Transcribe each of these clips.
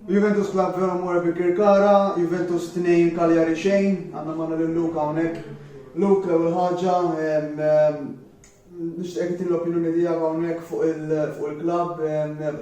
Juventus Club Vero Amore Birkirkara, Juventus 2 Cagliari xejn, għandna magħna lil Luke hawnhekk. Luke, l-ewwel ħaġa, nixtieqek tagħtini l-opinjoni tiegħek hawnhekk fuq il-klabb,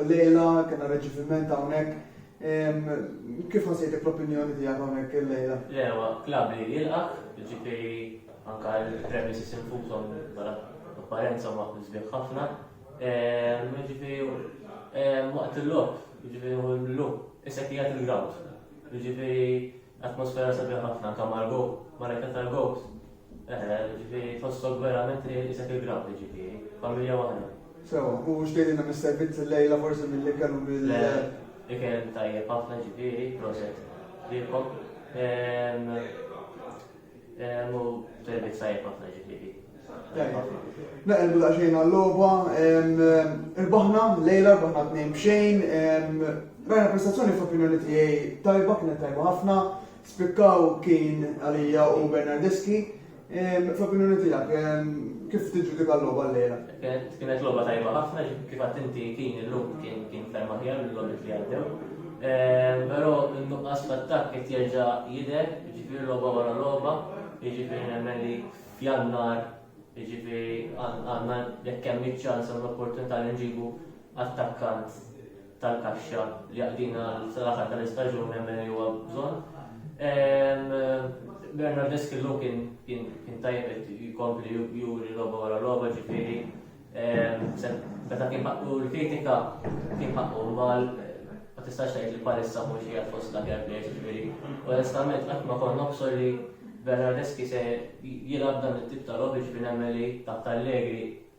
illejla kellna riċeviment hawnhekk, kif ħassejtek l-opinjoni tiegħek hawnhekk illejla? Le, huwa klabb li jilqgħek, jiġifieri anke l-premises infushom bħala apparenza huma sbieħ ħafna. Ġifieri waqt il-logħob, ġifieri hu l-lum, issa qiegħed il-ground. Ġifieri atmosfera sabiħa ħafna anke mal-go, mal-ekka tal-gows. Ġifieri tħossok verament li isek il-ground ġifieri, familja waħda. Sewa, u xtejdilna mis-servizz il-lejla forsi milli kellu bil- Le, ikel tajjeb ħafna ġifieri, proset lilkom. Mu termit sajjeb ħafna ġifiri. Naqilbu daqxejn għall-loba, irbaħna, lejla rbaħna t-nejn bxejn, rajna prestazzjoni f'opinjoni tiegħi tajba kienet tajba ħafna, spikkaw kien għalija u Bernardeski, f'opinjoni tiegħek kif tiġġudika l-loba lejla? Kienet logħba tajba ħafna, kif għad inti kien illum kien kien ferm aħjar mill-logħbiet li għaddew. Ehm, però n-nuqqas f'attakk qed jerġa' jidher, jiġifieri logħba wara logħba, jiġifieri nemmen li f'jannar jiġifieri għandna jekk hemm iċ-ċans u l-opportunità li nġibu attakkant tal-kaxxa li jaqdina l-aħħar tal-istaġun nemmen li huwa bżonn. Bernard Eskillu kien kien tajjeb qed jkompli juri logħba wara logħba ġifieri meta kien ħaqqu l-kritika kien ħaqqu mal ma tistax tgħid li palissa mhux qiegħed fost la fair play ġifieri. Onestament qatt ma kont nobsor li Bernard Eski se jilgħab dan it-tip ta' logħba ġifieri nemmen li taħt Allegri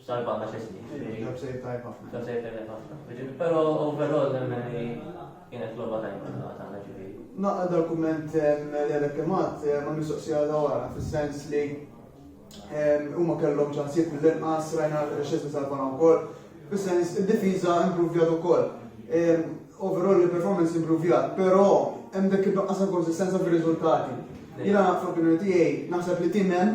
Sal-banda xesni. Ġab sejf tajb ħafna. Ġab sejf tajb ħafna. Pero overall nemmen li kienet loba tajb ħafna tagħna ġifieri. Naqqa dal-kumment l-elek kemat ma mistoqsija da wara, fis-sens li huma kellhom ċansib l-inqas rajna xesni sal-banda wkoll, fis-sens id-difiża improvjat ukoll. Overall il-performance improvjat, pero hemm dak il-nuqqas konsistenza fir-riżultati. Jina fl-opinjoni tiegħi naħseb li timem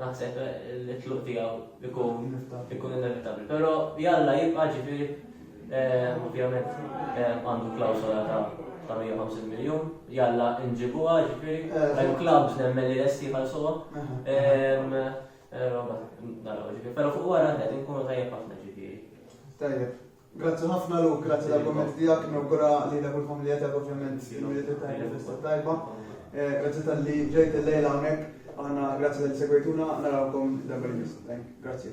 Naħseb li tluq tiegħu ikun ikun inevitabbli, però jalla jibqa' ġifieri eh, ovvjament eh, għandu klawsola ta' ta' 150 miljon, jalla nġibuha ġifieri, eh, hemm klabs nemmen li lesti ħalsuha. Roba, naraw ġifieri, però fuq wara qed inkunu tajjeb ħafna ġifieri. Tajjeb. Grazzi ħafna Luke, grazzi tal-kumment tiegħek, nawgura lilek u l-familja tiegħek ovvjament il-Milied tajba festa tajba. Eh, grazzi tal-li ġejt il-lejla hawnhekk, aħna grazzi tal-li segwejtuna, narawkom darba li Grazzi.